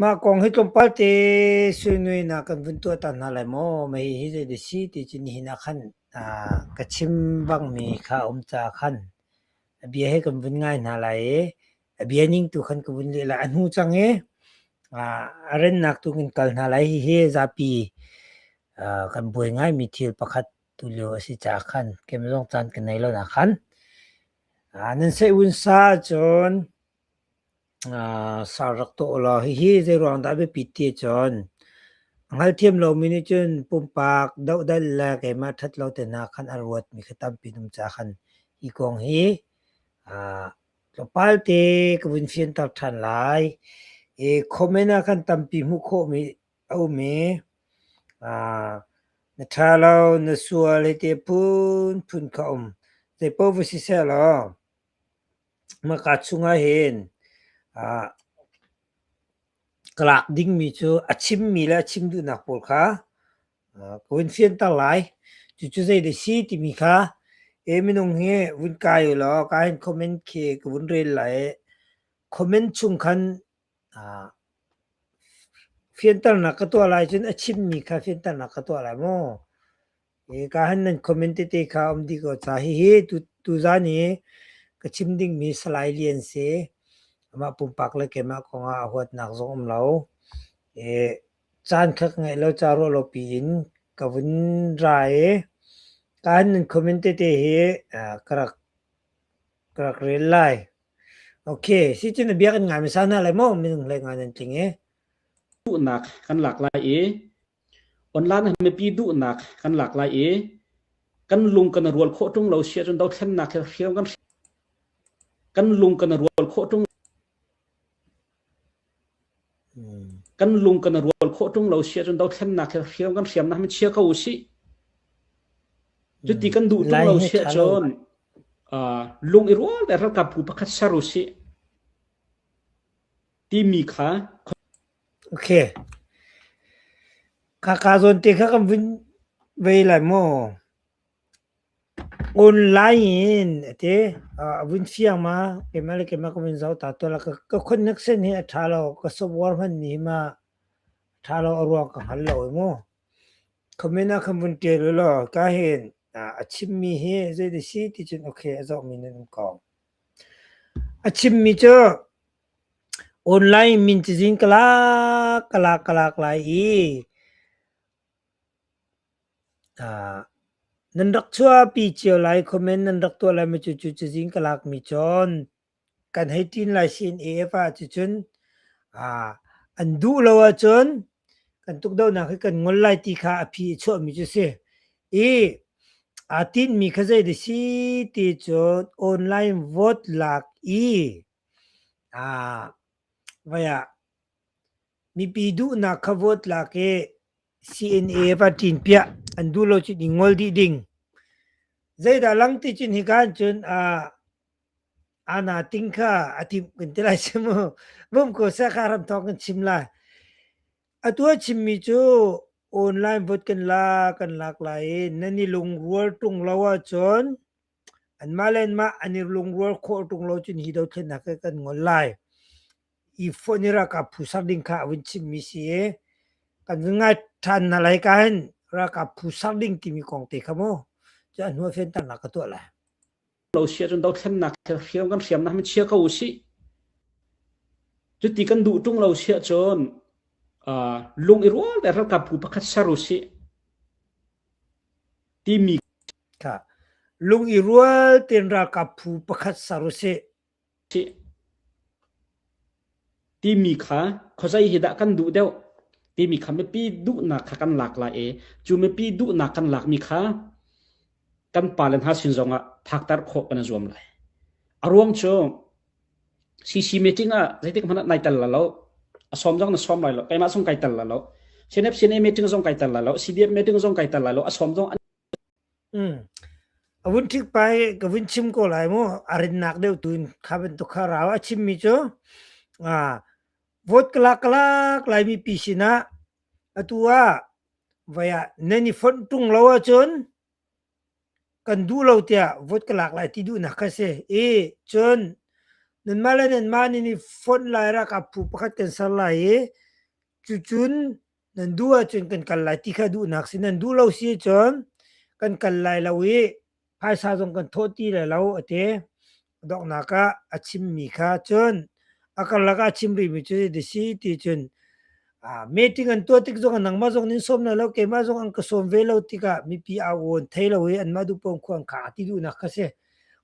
Mah kong hi tlawmpal te suinuinak kan vun tuahter hna lai maw? Mahi hi zei dih a si ti cu nihin ah khan ah ka chim bangmi kha a um caah khan a bia hi kan vun ngai hna lai i a bia ning tu khan ka vun leh lai. A hnu cang i ah a rennak tu kan kal hna lai. Hihi zapi ah kan buai ngaimi thil pakhat tulio a si caah khan keimah zong caan ka nei lo nakhan. Ah nan saih vunsa ahcun Sa rak tawh law hihi zeiruang dah a biapit ti ahcun a hngalthiam lomi nih cun pumpak dohdalh le keimah ṭhat lo te hna khan a ruatmi kha tampi an um caah khan hi kong hi tlawmpal te ka vun fianter ṭhan lai. I comment ah khan tampi hmuh khawhmi a um i na ṭha lo, na sual hiti phunphun kha a um. Zeipaoh va si seh law. Hmaka chungah hin ah ka lak dingmi cu a chimmi le a chim duhnak pawl kha ah ka vun fianter lai. Cucu zeidah si timi kha e minung hi vun kai ulaw kaa hin comment khi ka vun rel lai i comment chung khan ah fianternak ka tuah lai cun a chimmi kha fianternak ka tuah lai maw? Kahan nan comment tete kha um dih ko ca. Hihi tuzan i ka chim dingmi Salai Lian si. Amah pumpak le keimah kongah a huatnak zong um lo. Caan kha ka ngeih lo ca ruah lo piin ka vun ra i kahan nan comment tete hi ka rak ka rak rel lai. Okay, sicun na biak in ngaimi sa hna lai maw minung hlei nga nan tling i. Duhnak kan lak lai i Online ah mipi duhnak kan lak lai i kan lung kan rual khawh ṭung lo si ahcun dothlennak hi hriam kan hrial. Kan lung kan rual khawh ṭung kan lung kan rual khawh ṭung lo si ahcun dothlennak hi hriam kan hriamnak hi chia ko usih. Cuti kan duh ṭung lo si ahcun aa lung i rual le ralkapbu pakhat ser usih timi kha Kha ka zawn te kha kan vun vei lai maw? Online in a ti. A vun fiang ma, keimah le keimah ka vun zoh ta tuah la. Ka connect sen hi a ṭha lo. Ka software hmanmi hi ma ṭha lo a ruang ka hngal lo e maw? Comment ah kan vun ṭial ulaw ka hin a chimmi hi zei ti si ti cun okay a zawmi nan um ko. A chimmi cu Online min cazin ka lak, ka lak, ka lak lai i aa nan rak chuahpi cio lai comment nan rak tuah lai mi cu cu cazin ka lak mi cun kan hei ṭin lai sin EF ah cucun aa an duh lo ahcun kan tukdohnak hi kan ngol lai ti kha a phi a chuah mi cu si. I aa tinh mi kha zei dah si ti cun online vote lak i Vai ah mipi duhnak kha vote lak i CNA va ṭin piah an duh lo cu ding ngol dih ding. Zeidah langti cun hika hin cun Ana Ting kha a timh kan ti lai si mu. Vum ko seh ka ram thawng kan chim lai. Atu a chimmi cu online vote kan lak, kan lak lai i nan i lungrual ṭung lo ahcun Anmah le anmah an i lungrual khawh ṭung lo cun hi dothlennak hi kan ngol lai. I fawh ni ralkap phu ser ding kha a vun chimmi si i kan vun ngai ṭhan hna lai ka hin ralkap phu ser ding timi kong te kha mu cu a hnuah fianternak ka tuah lai. Lo si ahcun dothlennak hi hriam kan hriamnak mi chia ko u sih. Cuti kan duh ṭung lo si ahcun uh, lung i rual le ralkap phu pakhat ser u sih. timi kha lung i rual tein ralkap phu pakhat ser u sih. Timi kha khuazei hi dah kan duh deuh timi kha mipi duhnak kha kan lak lai i cu mipi duhnak kan lakmi kha kan pale hna sin zongah phakter khawh kan i zuam lai. A ruang cu CC meeting ah zeitik hmanh ah nai tel la lo. A sawm zong na sawm lai lo. Keimah zong kai tel la lo. CNF CNA meeting zong kai tel la lo. CDF meeting zong kai tel la lo. A sawm zong an um avun thik pai ka vun chim ko lai mu arin nak deu tuin kha ben to kha raw a chim mi chu a vote kala kala lai mi pi sina atu a vaya nani phon tung lo a chun kan duh lo tiah vote ka lak lai ti duhnak kha si i cun nanmah le nanmah nan i fonh lai ralkap phu pakhat kan ser lai i cucun nan duh ahcun kan kal lai ti kha duhnak si nan duh lo si cun kan kal lai lo i phaisa zong kan thawh ti lai lo a ti donghnak ah a chimmi kha cun a karlak ah a chim rihmi cu ti si ti cun uh, meeting an tuah tik zong nangmah zong nin sawm na lo keimah zong an ka sawm ve lo tikah mipi a uon thei lo i anmah du pom khuang kha ti duhnak ka si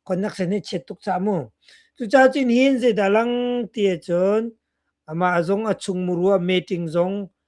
connection hi chet tuk cha mu cu cha chin hin zeidah lang ti cun amah zong a chung murua meeting zong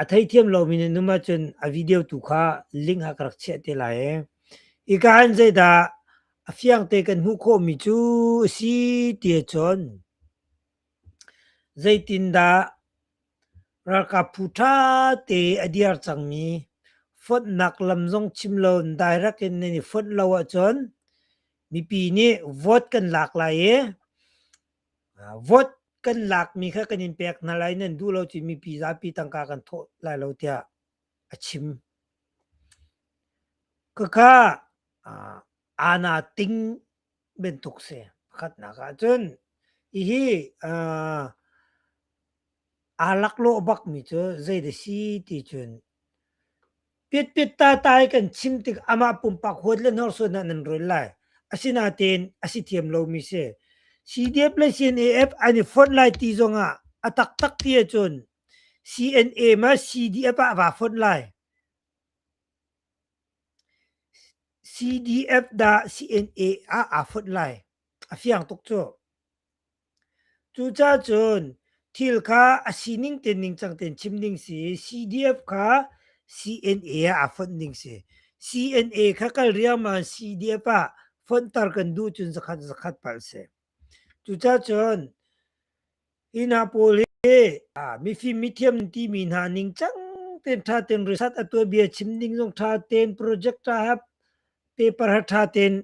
a theithiam lomi na num ahcun a video tu kha link ah ka rak chiah te lai i ika in zeidah a fiang te kan hmuh khawhmi cu a si ti ahcun zeitindah ralkap phu ṭha te a dir cangmi fonnak lam zong chim lo in direct in nan i fonh lo ahcun mipi nih vote kan lak lai i Vote kan lakmi kha kan in pek hna lai, nan duh lo cun mipi zapi tangka kan thawh lai lo tiah a chim. Khakha aana ting bantuk si. Pakhatnak ahcun hihi aa laklawh bakmi cu zei da si ti cun Pitpit tatai kan chim tik amah pumpak huat le hnorsuan ah nan run lai. Asinain a si thiam lomi si. CDF le CNAF an i fonh lai ti zong ah a taktak ti ahcun CNA ma CDF ah vaa fonh lai. CDF dah CNA ah aa fonh lai. A fiang tuk cu. Cucacun thil kha a sining te ningcang tein chim ding si i CDF kha CNA ah a fonh ding si. CNA kha kal riangmang in CDF ah fonhter kan duh cun zakhat zakhat palh si. Cucacun hi hna pawl hi ah mifim mithiam an timi hna ningcang tein ṭha tein result a tuanbia chim ding zong ṭha tein project ṭha paper ha ṭha tein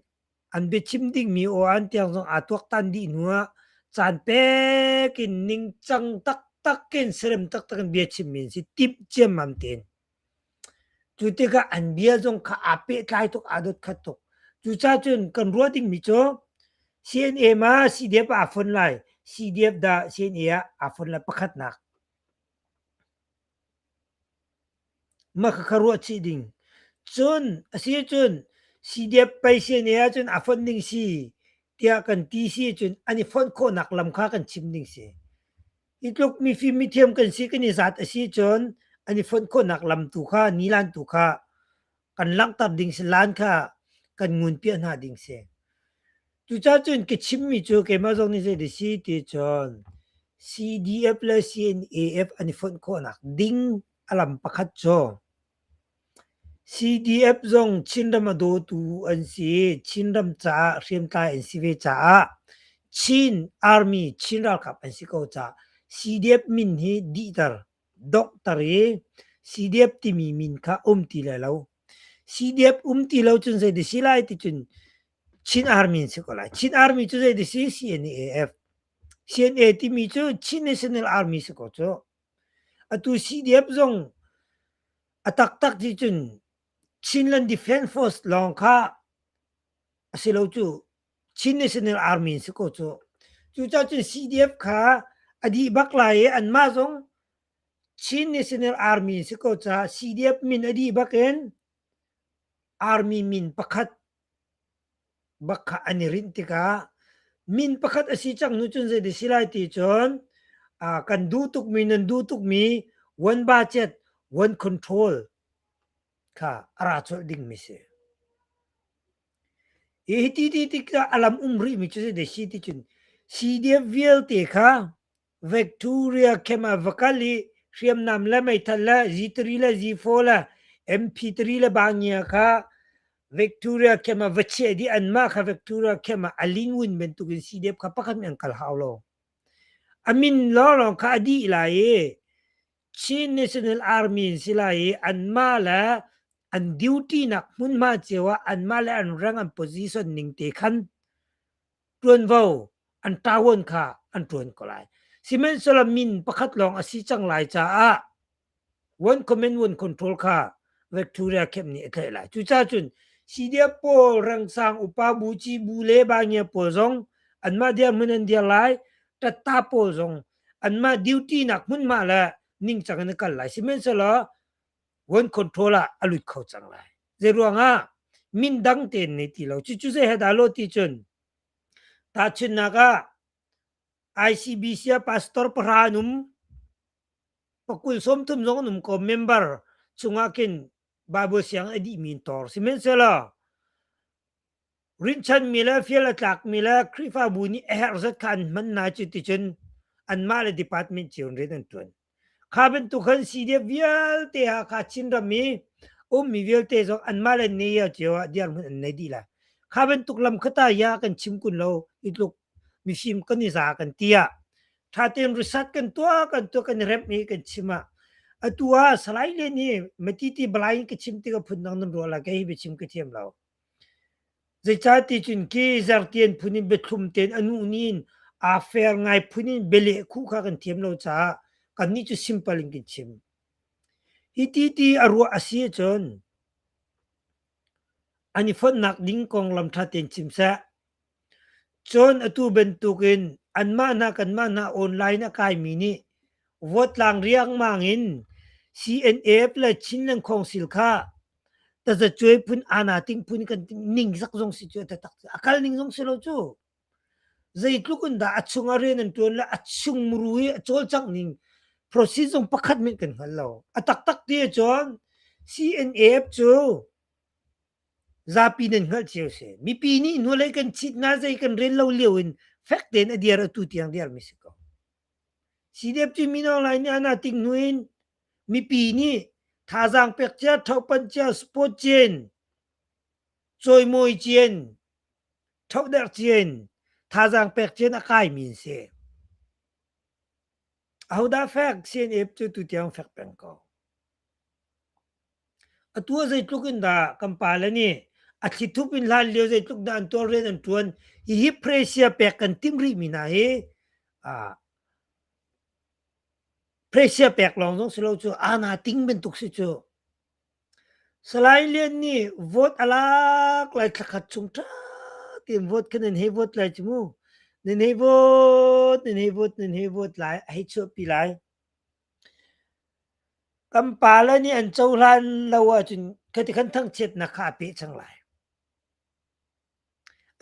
an biachim dingmi oan tiang zong aa tuaktan dih hnu ah caan pek in ningcang taktak in serem taktak in bia chimmi an si timh ciammam tein cu tikah an bia zong kha aa pehtlai tuk aa dot khat tuk cuca cun kan ruah dingmi cu CNA ma CDF ah aa fon lai CDF dah CNA ah aa fon lai pakhatnak Makha ruah chih ding. Cun a si ahcun CDF pei si ne ahcun a fonh ding si tiah kan ti si ahcun an i fonh khawhnak lam kha kan chim ding si. Hi tluk mifim mithiam kan si kan i zat a si ahcun an i fonh khawhnak lam tu kha, nilan tu kha kan langhter ding si lan kha kan ngun piah hna ding si cucah cun ka chimmi cu keimah zong nih zei di si ti cun CDF le CNAF an i fonh khawhnak ding a lam pakhat cu CDF zong Chinram a dawtu an si Chinram caah hriamtlai an si ve caah Chin Army Chin ralkap an si ko caah CDF min hi dihter Dokter i sidiap timi min kha um ti lai lo. Sidiap um ti lo cun zei dih si lai ticun Chin Army an si ko lai. Chin Army cu zei dih si? CNAF. CNA timi cu Chin National Army si ko cu. Atu CDF zong a taktak ti cun Chinland Defence Force lawng kha a si lo cu Chin National Army si ko cu. Cucacun CDF kha a dih bak lai i anmah zong Chin National Army si ko caah CDF min a dih bak in Army min pakhat bak kha an i rinh tikah min pakhat a si cang hnu cun zei ti si lai ti cun uh, kan duh tukmi nan duh tukmi one budget one control kha a ra colh dingmi si. I hiti ti tikah a lam um rihmi cu zei si ticun CDF vialte kha Victoria camp ah va kal i hriamnam le meithal le Z3 le Z4 le MP3 le bangia kha Victoria camp ah va chiah dih anmah kha Victoria camp ah a lingun bantuk in CDF kha pakhat nih an kal hau lo. A min lawnglawng kha a dih lai i Chin National Army an si lai i anmah le an duty nak hmunhma cio ah anmah le an rank an position ning te khan ṭuanvo an ṭawon kha an ṭuan ko lai. Sihmanhsehlaw min pakhat lawng a si cang lai caah one comment one control kha Victoria Camp nih a tlaih lai. Cucaah cun CDF pawl rangsang upa buci bu le bangia pawl zong anmah diar hmun an diar lai tatta pawl zong anmah duty nak hmunhma le ningcang in na kal lai sihmanhsehlaw one control ah a lut kho cang lai zei ruangah min dang tein nei ti lo cucu zei he dah lo ti cun tahchunnak ah ICBC a pastor pahra an um pakul som thum zong an um ko member chungah kin Bible siang a dih min tor sihmanhsehlaw Rinhchanmi le fial a tlakmi le Khrihfabu nih a herh zat kha an hman hna cuticun anmah le department cio in rian an ṭuan. Kha bantuk khan CDF vialte Hakha Chinram i ummi vialte zong anmah le NEA cio ah dirhmun an nei dih lai. Kha bantuk lam khata ya kan chim kun lo i tluk mifim kan i za kan ti ah ṭhatein result kan tuah kan tuah kan i remh i kan chim ah atu ah Salai le nih Matiti Balai in ka chim tikah phundang nan ruah lai kei hi biachim ka thiam lo. Zeicaticun ke Zartian phun in biathlum tein a nuhni in aa fer ngai phun in bialeh khuh kha kan thiam lo caah kannih cu simple in kan chim. Hi ti ti a ruah a si ahcun an i fonhnak ding konglam ṭha tein chim seh. Cun atu bantukin anmah hna kanmah hna online a kaimi nih vawtlang riangmang in CNF le Chin Lang Khawngsil kha tazacuai phun ana ting phun kan ning zak zong si cu a tatak a kal ning zong si lo cu zeitluk in dah a chung a rian an ṭuan le a chung muru i a cawlcangh ning proceed zong pakhat min kan hngal lo a taktak ti ahcun CNF cu Zapi nan hngalh cio seh. Mipi nih hnulei kan cit hna, zei kan rel lo lio in fek tein a dir atu tiang dirmi si ko. CDF cu Mino Lai nih an ating hnu in mipi nih thazaang pek cia, thohpanh cia, sport cien, cawimawi cien, thohderh cien, thazaang pek cien a kaimi an si. Ahodah fek CNF cu tutiang fek peng ko. Atu ah zeitluk in dah kan pale nih a thlithup in hlan lio zeitluk dah an tualrian an ṭuan hihi Presia pek kan timh rihmi hna hi aa Presia pek lawng zong si lo cu aana ting bantuk si cu. Salai Lian nih vote a lak lai thla khat chung ṭha tein vote kha nan hei vote lai cu mu. Nan hei vote, nan hei vote, nan hei vote lai a hei chuahpi lai. Kan pale nih an cohlan lo ahcun ka ti kan thangchiatnak kha a peh cang lai.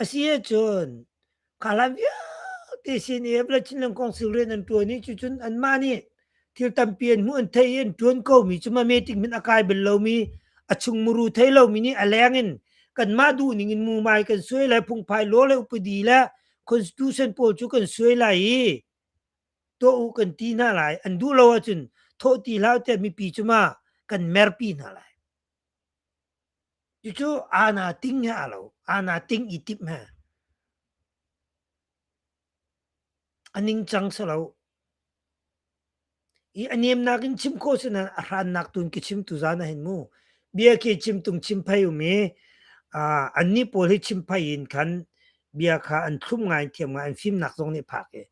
A si ahcun kha hlan vialte sin i Hebla Chinland Kong Sil rian an ṭuan i cucun anmah nih thil tampi an hmuh an theih i an ṭuan komi cu mameting hmanh a kai bal lomi, a chung muru thei lomi nih a leng in kanmah duhning in mumai kan suai lai, phungphai law le upadi le constitution pawl cu kan suai lai i tuah u kan ti hna lai an duh lo ahcun thawh ti hlah tiah mipi cu ma kan merpi hna lai cucu ana ting he aa lo ana ting i tip he a ningcang salo i a nemnak in chim khawh sinan a hrannak tun ki chim tu zan a hin mu bia ke chim tung chim phai um i an ni pawl hi chim phai in khan bia kha an thlum ngai thiam ngai an fimnak zong nih phak i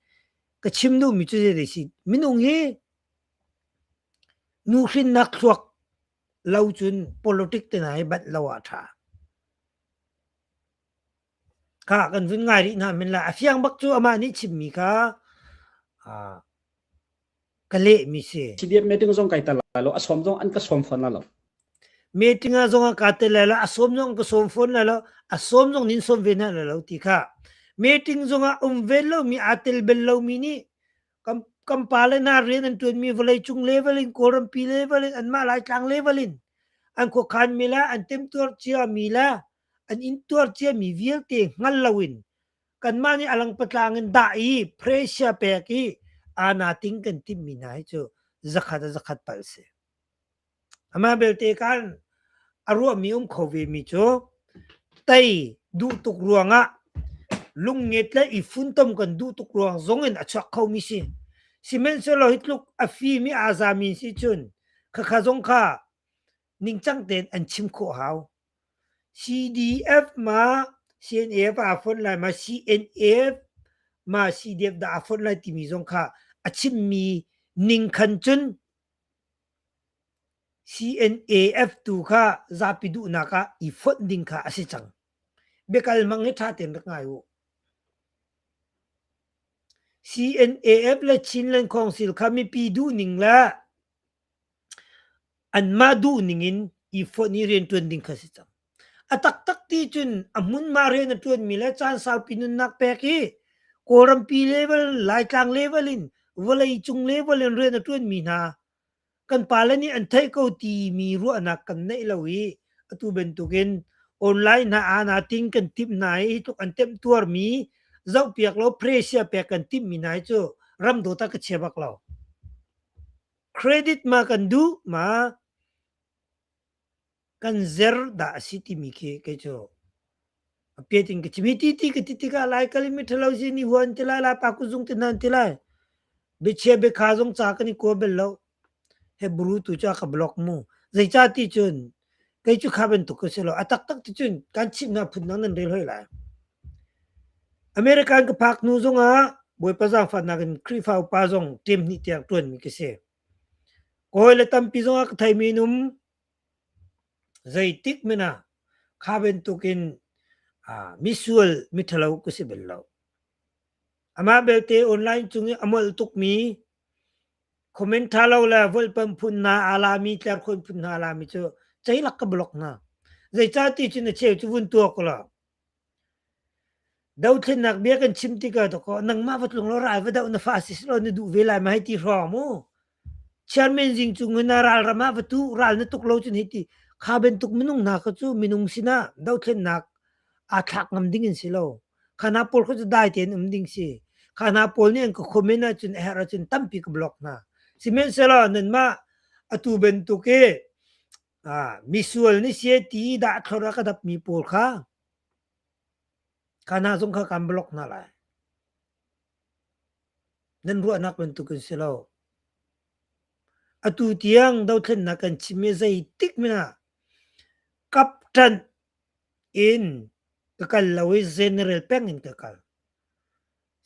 ka chim duhmi cu zei si minung hi nu hrinnak thluak lo cun politic te hna hi bat lo a tha kha kan vun ngai rih na min la a fiang bak cu ama nih chimmi kha a ka lehmi si. CDF meeting zong kai tel lai lo, a sawm zong an ka sawm fawn lai lo. Meeting ah zong ka tel lai lo, a sawm zong ka sawm fawn lai lo, a sawm zong nin sawm ve na lai lo ti kha. Meeting zong ah um ve lomi, aa tel bel lomi nih kan kan pa le na rian an tuanmi vawlei cung level in Kawlrampi level in anmah Laitlang level in an khuakhan mi la an temtuar cia mi la an in tuar cia mi vialte hngal lo in kanmah nih a langpatlang in dah i pressure pek i ana ting kan timmi hna hi cu zakhat a zakhat pal si. Amah belte kan a ruahmi um kho vemi cu tei duh tuk ruangah lungnget le i funtom kan duh tuk ruang zong in a chuak kho mi si. Sihmanhsehlaw hi tluk a fimi a zami si cun khakha zong kha ningcang tein an chim khawh hau. CDF ma CNF aa fonh lai ma CNF ma CDF dah aa fonh lai timi zong kha a chimmi ning khan cun CNAF tu kha zapi duhnak ah i fonh ding kha a si cang. Biakal mang hi ṭha tein rak ngai u. CNAF le Chinland Council kha mipi duhning le anmah duhning in ifonh i rianṭuan ding kha a si cang. A taktak ti cun a hmunhma rian a ṭuanmi le caan saupi nunnak pek i Kawlrampi level, Laitlang level in vawleicung level in rian a ṭuanmi hna kan pale nih an theih ko timi ruahnak kan neih lo i atu bantukin online hna aana ting kan timh hna i tluk an temhtuarmi zohpiak law pressure pek kan timhmi hna hi cu ramdawt ah ka chia bak lo. Credit ma kan duh ma kan zer dah a si timi khi kei cu a piat in ka chim. Hi ti ti ka ti tikah lai kal i miṭhalo si ni huan ti lai, lapa kuzung ti nan ti lai, biachia biakha zong ca kan i kua bel lo. Hebru tu cu a ka block mu. Zeicah ti cun kei cu kha bantuk ka si lo a taktak cu cun kan chimnak phundang nan rel hoi lai American ka phak hnu zongah bawipa zaangfahnak in Khrihfa upa zong ṭem hnih tiang ṭuanmi ka si kawi le tampi zongah ka theimi num zeitik mena kha bantuk in misual mithalo ka si bel lo amah belte online cung i a molh tukmi Comment ṭha lo le vulhpamh phun hna aa lami, tlerkhawn phun hna aa lami cu ceilak ka block hna. Zeicahti cu na cheu cu vun tuak u law. Dothlennak bia kan chim tikah dawkaw nangmah va tlung law rai va doh na fa si law na duh ve lai ma hei ti hrawng mu. Chairman zing cu ngun ah ral ram ah va tu ral na tuk lo cun hei ti kha bantuk minung hna kha cu minung sinah dothlennak aa thlak ngam ding in si lo. Khana pawl khu cu dai tein um ding si. Khana pawl nih an ka comment ahcun a herh ahcun tampi ka block hna. Sihmanhsehlaw nanmah atu bantuk i misual ni si ti dah thlora ka dapmi pawl kha khana zong kha kan block hna lai. Nan ruahnak bantuk in si lo. Atu tiang dothlennak kan chim i zeitik mina kaptan Inn ka kal lo i General peng in ka kal.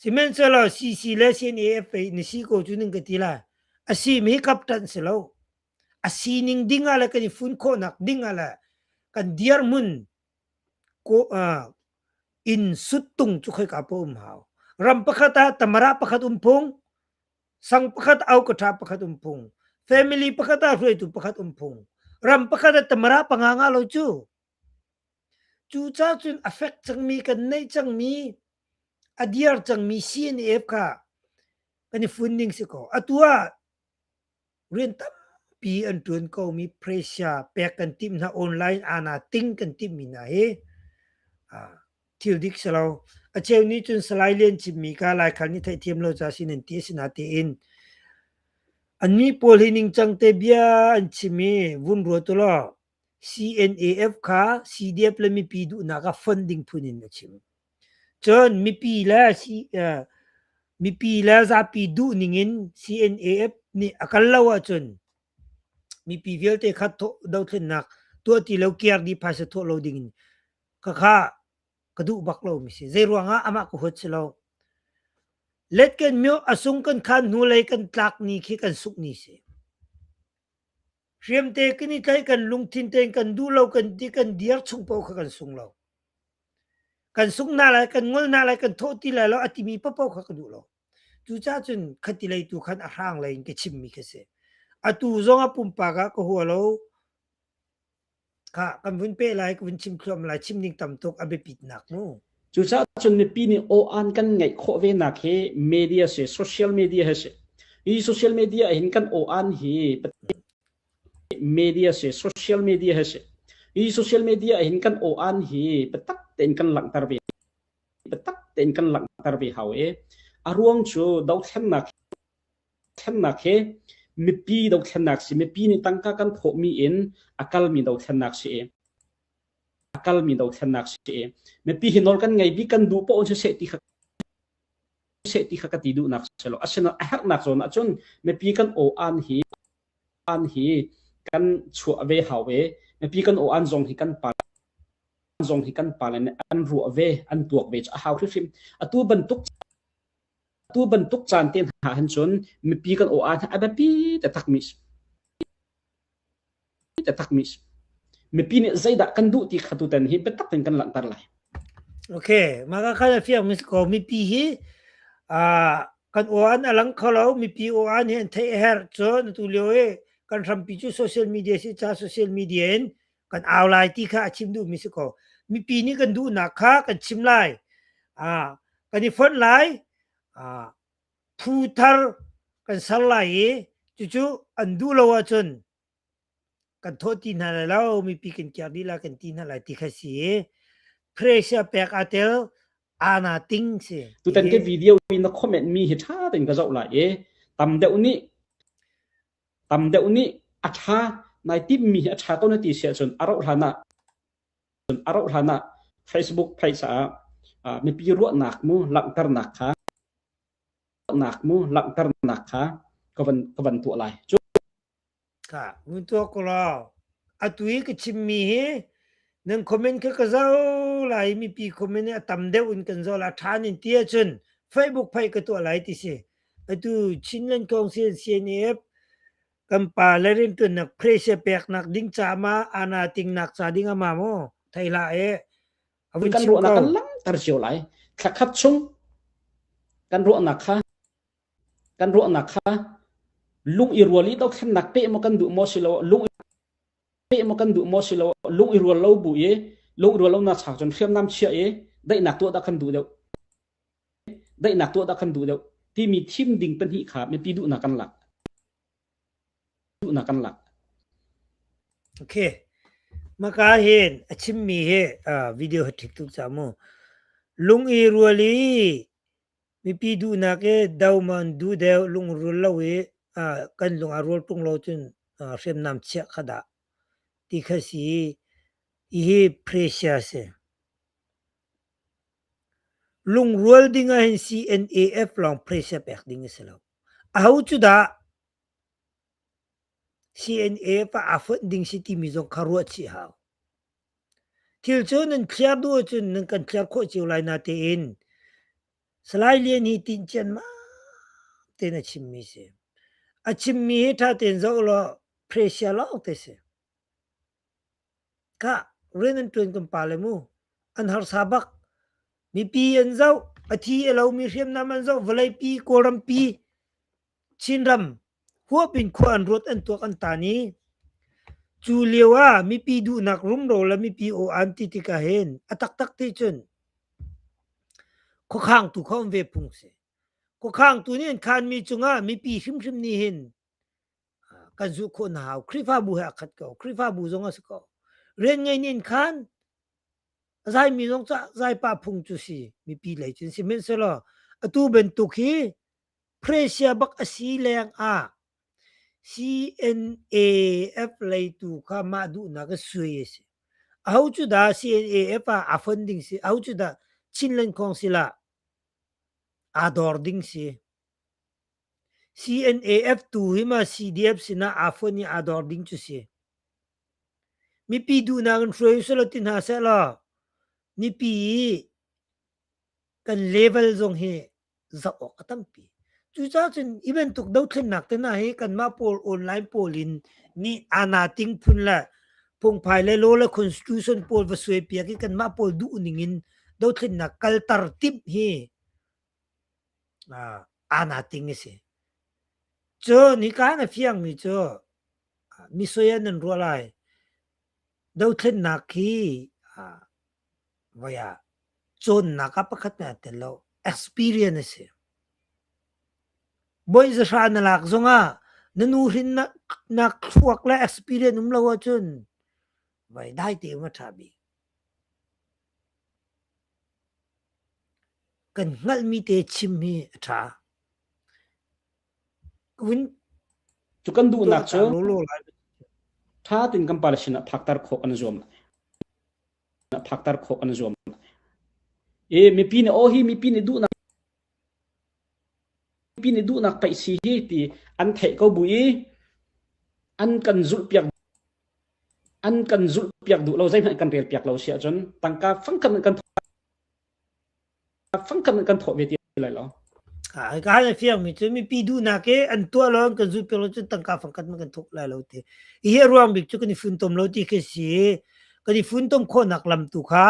Sihmanhsehlaw CC le CNAFA na si ko cu nan ka ti lai. A simi hi captain si lo. A sining ding ah le kan i fun khawhnak ding ah le kan dirhmun ko, uh, in sut tung cu khoi ka pa um hau. Ram pakhat ah tamara pakhat um phung, sang pakhat au katra pakhat um phung family pakhat ah hruaitu pakhat um phung ram pakhat ah tamara panga nga lo cu cu ca cun affect cangmi kan nei cangmi a diar cangmi CNF kha kan i fun ning si ko atu ah rian tampi an ṭuan komi Prussia pek kan timh hna online ana ting kan timhmi hna hi thil dik si lo. A cheu nih cun Salai Lian chimmi kha laikhal nih theihthiam lo ca sin an ti a si na tiin an mi pawl hi ningcang te bia an chim i vun ruat u law CNAF kha CDF le mipi duhnak ah fund ding phun in a chim. Cun mipi le mipi le zapi duh ningin CNAF nih a kal lo ahcun mipi vialte kha dothlennak tuah ti lo kir dih phaisa thawh lo ding in khakha ka duh bak lo mi si. Zei ruangah amah ka huat si lo. Let kan myo asung kan khan hnu lei kan tlak ni khi kan suk ni si. Hriamte kan i tlaih kan lungthin tein kan duh lo kan ti kan dir chung paoh kha kan sung lo. Kan sung hna lai, kan ngol hna lai, kan thawh ti lai lo a timi paoh kha ka duh lo. Cucaah cun khatilei tu khan a hrang lei in ka chimmi khi a si. Atu zong a pumpak ah ka hua lo. Ka kan vun pe lai ka vun chim thluam lai chim ning tam tuk a biapit nak mu. Cucaah cun mipi nih aw an kan ngaih khawh ve nak hi media si social media he si hi social media hin kan aw an hi media si social media he si hi social media hin kan aw an hi patak tein kan langhter ve patak tein kan langhter ve hau e a ruang cu dothlennak Thlennak hi mipi dothlennak si i mipi nih tangka kan thawhmi in a kalmi dothlennak si i a kalmi dothlennak si i mipi hi nawl kan ngei bik kan duh poh in siseh ti kha siseh ti kha ka ti duhnak si lo. Asinain a herhnak zawn ahcun mipi kan aw-an hi an hi kan chuah ve hau ve. Mipi kan aw-an zong hi kan pa zong hi kan pa le nih an ruah ve, an tuak ve cu a hau hrimhrim. Atu bantuk Atu bantuk caan te hna ahhin cun mipi kan aw ahhin a biapi taktakmi taktakmi a si. Mipi nih zeidah kan duh ti kha tutan hi biatak in kan langhter lai. Okay, maka kan fiang mis ko mipi hi uh, kan oan a lang kho lo mipi oan hi an thei a herh cun atu lio i kan hrampi cu social media si ca social media in kan au lai ti kha a chim duhmi si ko mipi nih kan duhnak kha kan chim lai ah kan i fonh lai ah phu thar kan ser lai i cucu an duh lo ahcun kan thawh ti hna lai lo mipi kan kiar dih lai kan ti hna lai ti kha si i pressure pek atel ana ting si tutan ke video in na comment mi hi tha tein ka zoh lai e tam deuh nih Tam deuh nih a ṭha nai timmi hi a ṭha ko na ti si ahcun a rauh hlan ah Facebook page ah mipi ruahnak mu langhternak kha ka van tuah lai. Mun tuah ko law. Atu i ka chimmi hi nan comment kha ka zau lai mipi comment i a tam deuh in kan zau lai. A ṭhan in ti ahcun Facebook page ka tuah lai ti si. Atu Chinland Council CNF kan pa le riantuannak phrase peknak ding caah ana tingnak ca ding ama maw thaila e avun kan ruahnak kan langhter cio lai thlakhat chung kan ruahnak kha kan ruahnak kha lung i rual i do thlennak pe mo kan du mo silo lung pe mo kan du mo silo lung i rual lo bu i lung i rual lo na chak chon hriam nam chia e dai nak tu da kan du deu Daihnak tuah dah kan duh deuh timi thim ding pahnih kha mipi duhnak kan lak. Duhnak kan lak. Okay. Maka hin a chimmi hi uh, video ha ṭhik tuk ca mu. Lung i rual i mipi duhnak i dauman du deu lungrul lo i uh, kan lung a rual ṭung lo cun uh, hriamnam chiah kha dah ti kha si. Ihi pressure si. Lungrual ding ah hin CNAF lawng phrisa pek ding a si lo. Aho cu dah CNAF ah aa fonh ding si timi zong kha ruah chih hau. Thil cu nan thliar duh ahcun nan kan thliar khawh cio lai natein Salai Lian hi tinh cianmam tein a chimmi si. A chimmi hi ṭha tein zoh law phrisia lawng te si. Kah rian an ṭuan kan pa le mu an harsa bak. Mipi an zoh, a thi a lomi hriamnam an zoh, vawlei pi, Kawlram pi, Chinram huap in khua an ruat an tuak an tan i cu lio ah mipi duhnak rumro le mipi aw an ti tikah hin a taktak ti cun khuakhang tu kha um ve phung si. Khuakhang tu nih an khanmi cungah mipi hrimhrim nih hin kan zu kho na hau Khrihfabu he akhat ko Khrihfabu zong a si ko rian ngei nin khan zai mi zong ca zai pa phung cu si mipi lei cin si selo atu bentuk hi Presia bak asi leng a CNAF lei tu kha ma duh na ka sui si au chu da CNAF a a funding si au chu da Chinland Council a a dor ding si CNAF tu hi ma CDF sinah aa fuan i aa dor ding cu si. Mipi duhnak in hruai usih law ti hna seh law, mipi i kan level zong hi zoh awk a tampi. Cucaah cun hi bantuk dothlennak te hna hi kanmah pawl online pawl in nih aana ting phun le phungphai le law le constitution pawl va suai piak i kanmah pawl duh ning in dothlennak kalter timh hi aana ting a si. Cu nika na fiangmi cu misui ah nan ruah lai. Dothlennak hi voi ah cawnnak ah pakhat na tel lo. Experience a si. Bawi zahra na lak zongah na nu hrin na thluak le experience um lo ahcun voi dai te um a ṭha bik. Kan hngalhmi te chim hi a ṭha. Vun Cu kan duhnak cu lawlaw lai. ṭha tein kan pale sinah phakter khawh kan i zuam. Phakter khawh kan i zuam. I mipi nih aw hi mipi nih duhnak Mipi nih duhnak pei si hi ti an theih ko bu i an kan zulhpiak duh lo. Zeihmanh kan rel piak lo si ahcun tangka fangkhat in kan thawh ve ti lai lo. Ka hal fiangmi cu mipi duhnak i an tuah lo an kan zulhpiak lo cun tangka fangkhat man kan thawk lai lo ti. Hi a ruang bik cu kan i funtom lo ti khi si. Kan i funtom khawhnak lam tu kha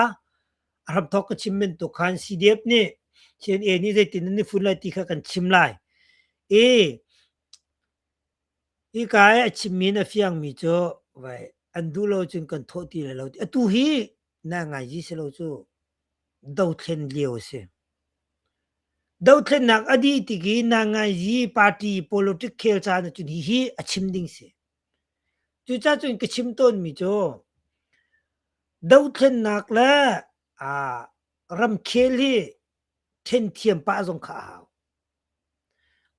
a hramthawk ka chim men tu khan CDF nih CNA nih zeitin nan i fun lai ti kha kan chim lai i ika i a chimmi na fiangmi cu vai an duh lo cun kan thawh ti lai lo atu hi na ngaizi si lo cu dothlen lio a si dothlennak a dih tik i na ngaizi party politic khel caan cun hi hi a chim ding si Cucacun ka chim tawnmi cu dothlennak le aa ramkhel hi ṭhenthiam pah zong kha a hau.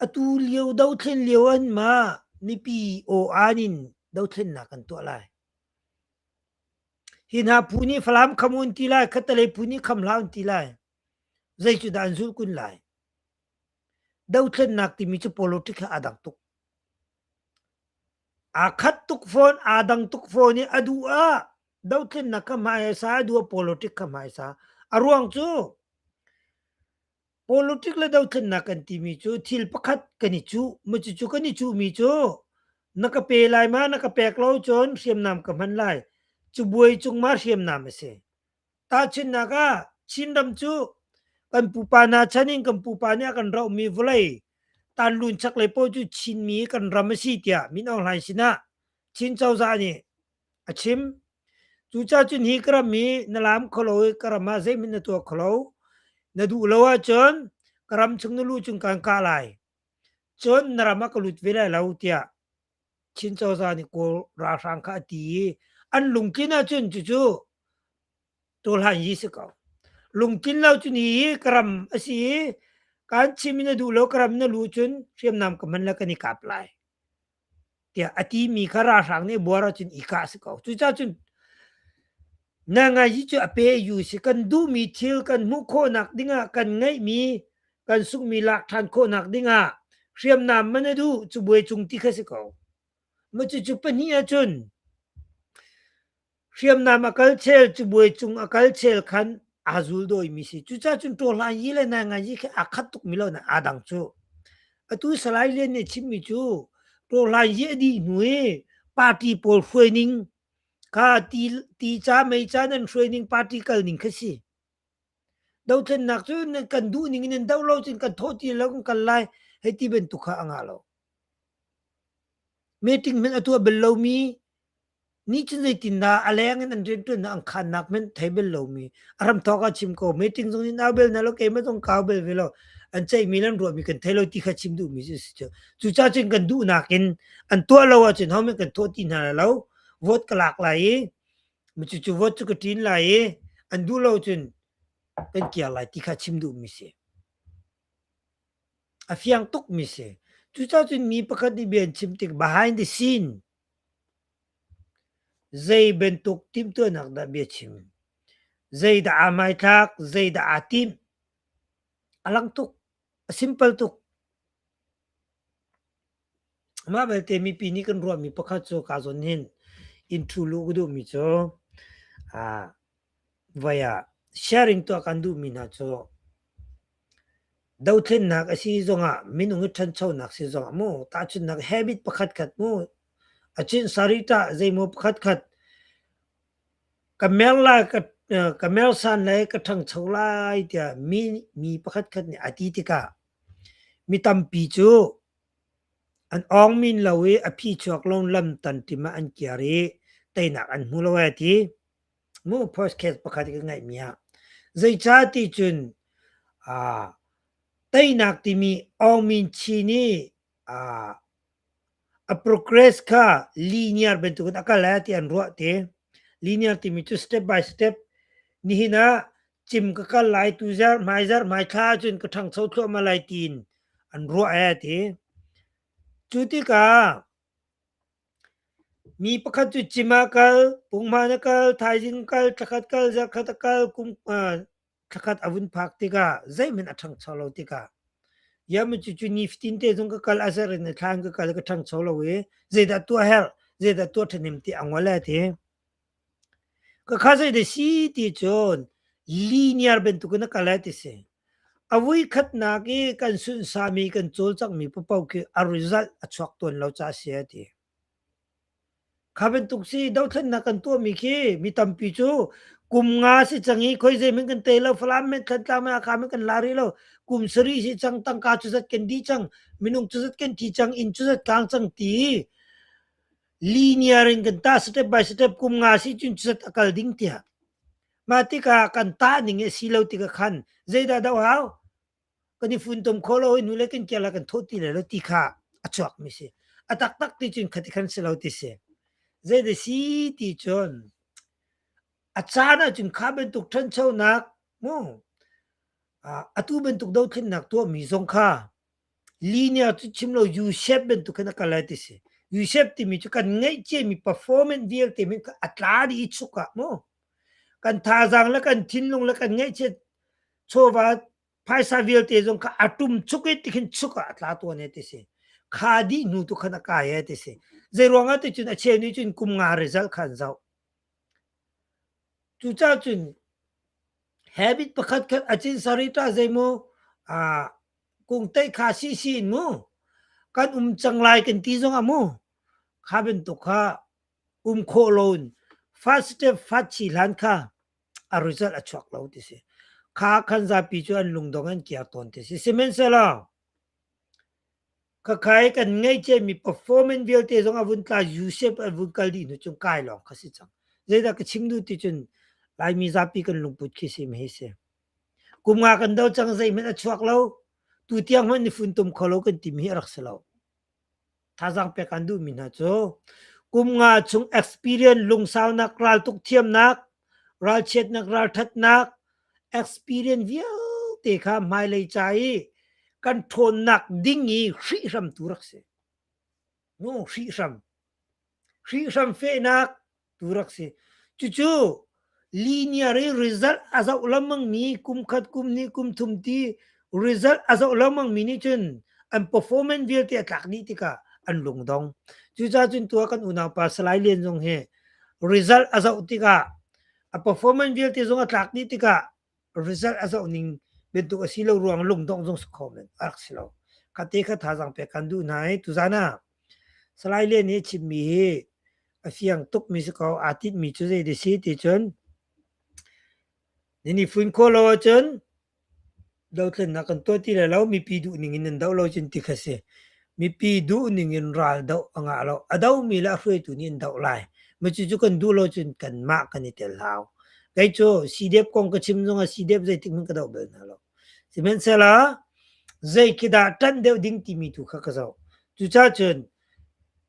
Atu lio dothlen lio in mah mipi aw-aan in dothlennak kan tuah lai. Hi hna phu nih Falam kham u an ti lai, khattelei phu nih kham hlah u an ti lai. Zei cu dah an zulh kun lai? Dothlennak timi cu politic ah a dang tuk. Aa khat tuk fawn, aa dang tuk fawn i a duh ah dothlennak kha hmai a sa, a duh ah politic kha hmai sa. A ruang cu politic le dothlennak kan timi cu thil pakhat kan i cuh. Maw cucu kan i cuhmi cu na ka pe lai ma, na ka pek lo cun hriamnam ka hman lai. Cubuai cung ma hriamnam a si. Tahchunhnak ah, Chinram cu kan pupa hna chan in kan pupa nih a kan rohmi vawlei tanlun chaklei paoh cu Chinmi kan ram a si tiah Min Aung Hlaing sinah Chin cozah nih a chim. Cucacun hi ka ram hi na laam kho lo i ka ram ah zeihmanh na tuah kho lo. Na duh lo ahcun ka ram chung na lu cung kaan kah lai. Cun na ram ah ka lut ve lai lo tiah Chin Cozah nih Kawl ralhrang kha a ti i an lungtlin ahcun cucu tawlhan yi si ko. Lungtlin lo cu ni i karam a si i kan chim in na duh lo karam na lu cun hriamnam ka man le kan i kap lai tiah a ti mi kha ralhrang nih buar ahcun i kah si ko. Cucaah cun na ngai hi cu a pe yu si kan duhmi thil kan hmuh khawhnak dingah kan ngeihmi kan sungmi lak ṭhan khawhnak dingah hriamnam man a duh cubuai cung ti kha si ko. Ma cucu pahnih ahcun hriamnam a kal chel cubuai cung a kal chel khan aa zul dawimi si. Cucaah cun ṭawhla yi le nainga yi khi aa khat tuk mi lo na aa dang cu. Atu Salai Lian nih chimmi cu ṭawhla yi a dih hnu i party pawl hruai ning kha ti, ti ca mei ca nan hruai ning party kal ning kha si. Dothlennak cu kan duh ning in nan doh lo cun kan thawh ti lo kan kal lai hei ti bantuk kha a ngah lo. Meeting hmanh a tuah bal lomi, nih cun zeitindah a leng in an rianṭuannak an khaannak hmanh thei bal lomi, a ram thawk ah chim ko, meeting zong nih nau bel hna lo, keimah zong kau bel ve lo, an ceihmi le an ruahmi kan thei lo ti kha chim duhmi cu a si cu. Cucaah cun kan duhnak in an tuah lo ahcun hohmanh kan thawh ti hna lai lo, vote ka lak lai i Micucu huat cu ka ṭin lai i an duh lo cun kan kiar lai ti kha chim duhmi si. A fiang tukmi si. Cucacun mi pakhat nih bia an chim tik behind the scene zei bantuk timhtuahnak dah bia chim? Zeidah aa hmaithlak? Zeidah aa timh? A lang tuk. A simple tuk. Mah belte mipi nih kan ruahmi pakhat cu kaa zawn hin in ṭhu luh ka duhmi cu ah voi ah sharing tuah kan duhmi hna cu dothlennak a si zongah minung i ṭhanchonak si zongah mu tahchunhnak habit pakhatkhat mu a cinsa ri ṭah zeimaw pakhatkhat ka mersan le ka ṭhangcho lai tiah mi pakhatkhat nih a ti tikah mi tampi cu an awng min lo i a phichuak lo lam tanṭim ah an kiar i teinak an hmu lo a ti. Mu podcast pakhat i ka ngaihmi ah zeicah ti cun teinak timi awngmin chin i a progress kha linear bantukin a kal e ti an ruah ti linear timi cu step by step nihin ah cim ka kal lai tu zar hmai zar hmai thla ahcun ka ṭhangcho thluahmah lai tiin an ruah e ti cu tikah mi pakhat cu cim ah kal punghman a kal thaizing kal tlakhat kal zarkhat a kal kum Thlakhat a vun phak tikah zeihmanh a ṭhangcho lo tikah, ya cucu nifatin te zong ka kal a ser in thlan ka kal ka ṭhangcho lo i zeidah tuah herh, zeidah tuah ṭhahnem ti a ngol a ti. Ka kha zeidah si ti cun linear bantuk in a kal a ti si. A vui khatnak i kan sunsahmi, kan cawlcanghmi paohpaoh khi a result a chuak tawn lo ca a si a ti. Kha bantuk si dothlennak kan tuahmi khi mi tampi cu kum nga si cang i khoi zeihmanh kan tei lo, Falam men, Thantlang men, Hakha men kan la rih lo. Kum sarih si cang, tangka cu zat kan dih cang, minung cu zat kan thi cang, inn cu zat tlang cang ti linear in kan tah step by step kum nga si cun cu zat a kal ding tiah. Mah tikah kan tah ning a si lo tikah khan zeidah doh hau? kan i funtom kho lo i nule kan kiala kan thawh ti lai lo ti kha a chuak mi si a taktak ti cun khat khan si lo ti si zei de si ti cun a caan ah cun kha bantuk ṭhanchonak mu atu bantuk dothlennak tuah mi zong kha linia cu chim lo USEP bantuk khan a kal lai ti si USEP timi cu kan ngeih cie mi performance vialte min a tla di i chuk ah mu kan thazang le kan thinlung le kan ngeih cie chawva phaisa vialte zong kha atum chuk i tikhin chuk ah atla tuan he ti si kha dih hnu tu khan akai he ti si zei ruangah ti cun acheu ni cun kum nga result khan zau cuca cun habit pakhat khat achin sarita zeimu a kung tai kha si si in mu kan um chang lai kan ti zong amu kha ben to kha um kho loin fast step fat chi hlan kha a result a chuak lo ti si kha khan zapi cu an lungdong an kiar tawn ti si sihmanhsehlaw khakhai kan ngeice mi performance vialte zong a vun tla usep a vun kal dih nu cung kai lawng kha si cang zeidah ka chim du ti cun laimi zapi kan lungput khi si ma hi si kum nga kan do cang zeihmanh a chuak lo tu tiang hman ni fun tum kholo kan tim hi a rak si lo Thazang pek kan duhmi hna cu kum nga chung experience lungsaunak raltuk thiamnak ralchiatnak ralthatnak experience vialte kha hmailei ca i kan ṭhawnnak ding i hrihhram tu rak si. Nu hrihhram. Hrihhram fehnak tu rak si. Cucu linear i result a zoh lengmang mi kum khat, kum hnih, kum thum ti result a zoh lengmang mi nih cun an performance vialte a tlak dih tikah an lungdong. Cucaah cun tu ah kan unau pa Salai Lian zong hi result a zoh tikah a performance vialte zong a tlak dih tikah result a zoh ning bantuk a si lo ruang lungdongh zong si kho men a rak si lo ka te kha thazang pe kan duh hna hi tuzan ah salai le nih chimmi hi a fiang tuk mi si ko aa tit mi cu zei de si ti cun ni ni fuin ko lo ahcun dotlunnak kan tuah ti le lo mipi duh ning in nan doh lo cun ti kha si Mipi duhning in ral doh a ngah lo. A domi le a hruaitu nih an doh lai. Macucu kan duh lo cun kanmah kan i tel hau. Kei cu CDF kong ka chim zongah CDF zeitik hmanh ka doh bal hna lo. Sihmanhsehlaw zei khi dah ṭanh deuh ding timi tu kha ka zoh. Cucaah cun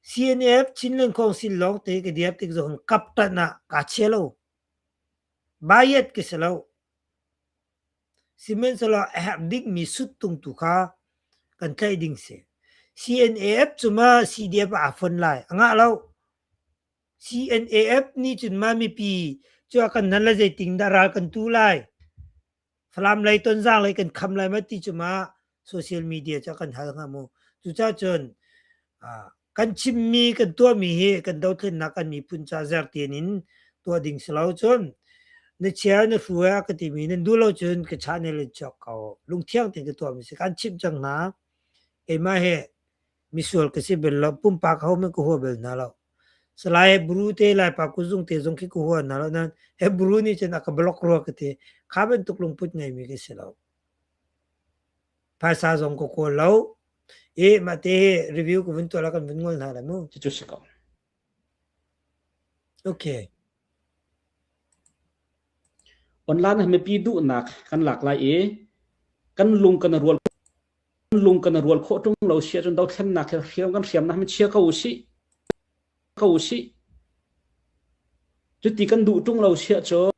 CNF Chinland Council lawng te ka diap tik zohin kap ṭanh ah kaa chia lo. Bias ka si lo. Sihmanhsehlaw a herh dingmi suttung tu kha kan tlaih ding si. CNAF cu ma CDF ah aa fon lai? A ngah lo. CNAF nih cun ma mipi cu a kan nan le zeiting dah ral kan tu lai? Falam lei tonzang lei kan kham lai ma ti cu ma social media cu kan hal hnga mu. Cucahcun kan chimmi kan tuahmi hi kan dothlennak kan miphun ca zertin in tuah ding si lo cun na chia na hru ah ka timi nan duh lo cun ka chah ne le chuak ko lungthiang tein ka tuahmi si kan chimh cang hna keimah hi misual ka si bel lo pumpak ho men ka hua bel hna lo salai hebrew te lai pa ku zung te zong khi ku hua na lo nan hebrew nih cun aka block rua ka ti kha bantuk lungput ngeimi ka si lo Phaisa zong ka kawl lo. I mah ti hi review ka vun tuah la kan vun ngol hna lai mu. Cucu si ko. Okay. Online ah mipi duhnak kan lak lai i kan lung kan rual kan lung kan rual khawh ṭung lo si ahcun dothlennak hi hriam kan hriamnak mi chia ko u sih. ko sih. Cuti kan duh ṭung lo siah cun,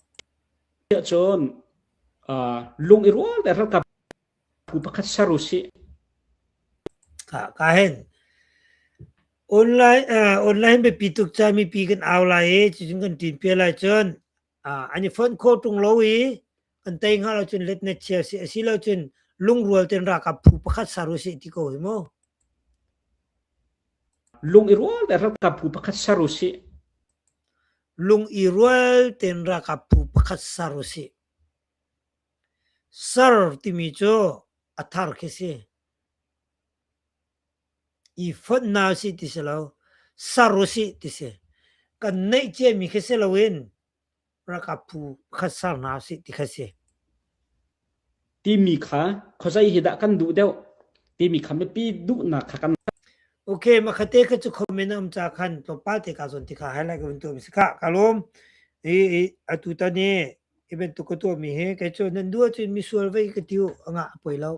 siah cun uh, lung i rual le ralkap phu pakhat ser u sih. Ka ka hen. Online uh, online be pi tuk cha mi pi kan au lai i cun kan tin pia lai cun uh, an i phone call ṭung lo i kan tei nga lo cun let na chia si a si lo cun lungrual ten rakap phu pakhat saru si ti ko hi mo lung i rual te rakap phu pakhat saru si lung i rual ten rakap phu pakhat saru si sar timi cu athar khi si i phot na si ti si lo saru si ti si kan neih che mi khi si lo in Ralkap phu pakhat ser hna usih ti kha si. Timi kha khuazei hi dah kan duh deuh timi kha mipi duhnak kha kan Okay, makate ka cu comment am ca khan tlawmpal te ka zon ti kha highlight ka vun tu mi si ka ka lom i i atu tani i ben tu ka tu mi he kai chu nan dua cun mi sual vei ka tiu anga poi lo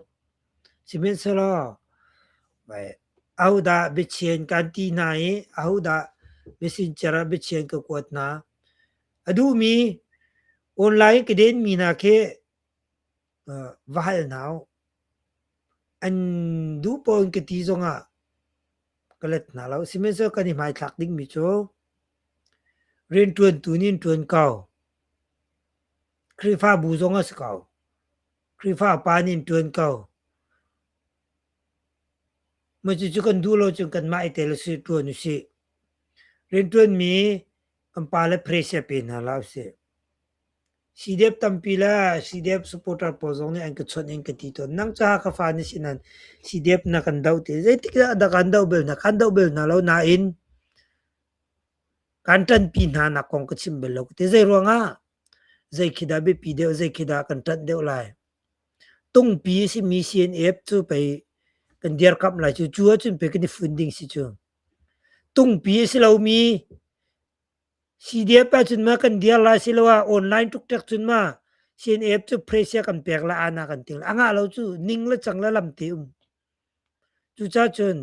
simen selo bai Ahodah biachien kan ti hna i ahodah messenger ah biachien ka kuat hna? A duhmi online ka denmi hna khi uh, va hal hna u. An duh pawn ka ti zongah ka let hna lo. Sihmanhsehlaw kan i hmaithlak dingmi cu rianṭuantu nih an ṭuan ko. Khrihfabu zong a si ko. Khrihfa pa nih an ṭuan ko. Cucu kan duh lo cun kanmah i tel usih, ṭuan usih. Rianṭuanmi kan pale phrase pe hna hlah usih. CDF tampi le CDF supporter pawl zong nih an ka chawnh in ka ti tawn. Nang cu Hakha fa na si nain CDF na kan doh ti. Zeitikdah na kan doh bel hna? Kan doh bel hna lo nain kan ṭanpi hna nak kong ka chim bal lo ka ti. Zeiruangah? Zei khi dah biapi deuh, zei khi dah kan ṭanh deuh lai? Tungpi simi CNF cu pei kan dirkamh lai cu. Cu ahcun pei kan i fun ding si cu. Tungpi a si lomi CDF ahcun ma kan dir lai siloah online tukṭek cun ma CNF cu phresiah kan pek la, ana kan til. A ngah lo cu ning le cang le lam te um. Cucacun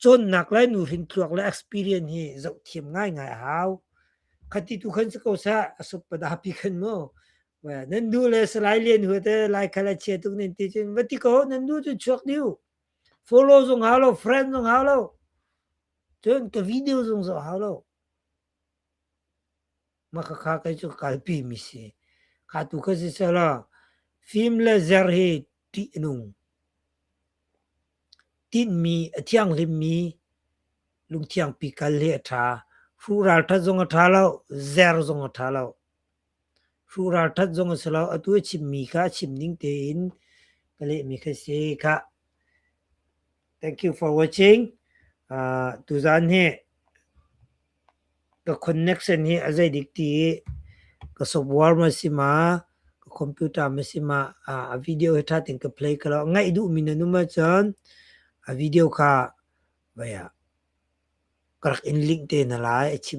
cawnnak le nuhrin thluak le experience hi zoh thiam ngaingai a hau. Khati tu khan si ko sah, a suk padapi khan mu. Nan nu le Salai Lian Hua te lai khal a chia tuk nan ti cun, va ti ko, nan nu cu chuak diu. Follow zung hau lo, friend zung hau lo. Cun ka video zung zoh hau lo. Makhakha kei cu kalpimi si. Kha tu ka si selaw fim le zer hi ṭih a nung. Tinhmi a thianghlimmi lungthiangpi kal hi a ṭha. Fu ralṭhat zong a ṭha lo, zer zong a ṭha lo. Hrural ṭhat zong a si lo. Atu a chimmi kha a chim ning tein ka lehmi kha si khah. Thank you for watching. Uh, tuzaan hi ka connection hi a zeidik ti i ka software ma si ma, ka computer ma si ma, uh, a video hi ṭha tein ka play ka lo. Ngaih duhmi na num ahcun a video kha vaya ka rak in link te hna lai a chim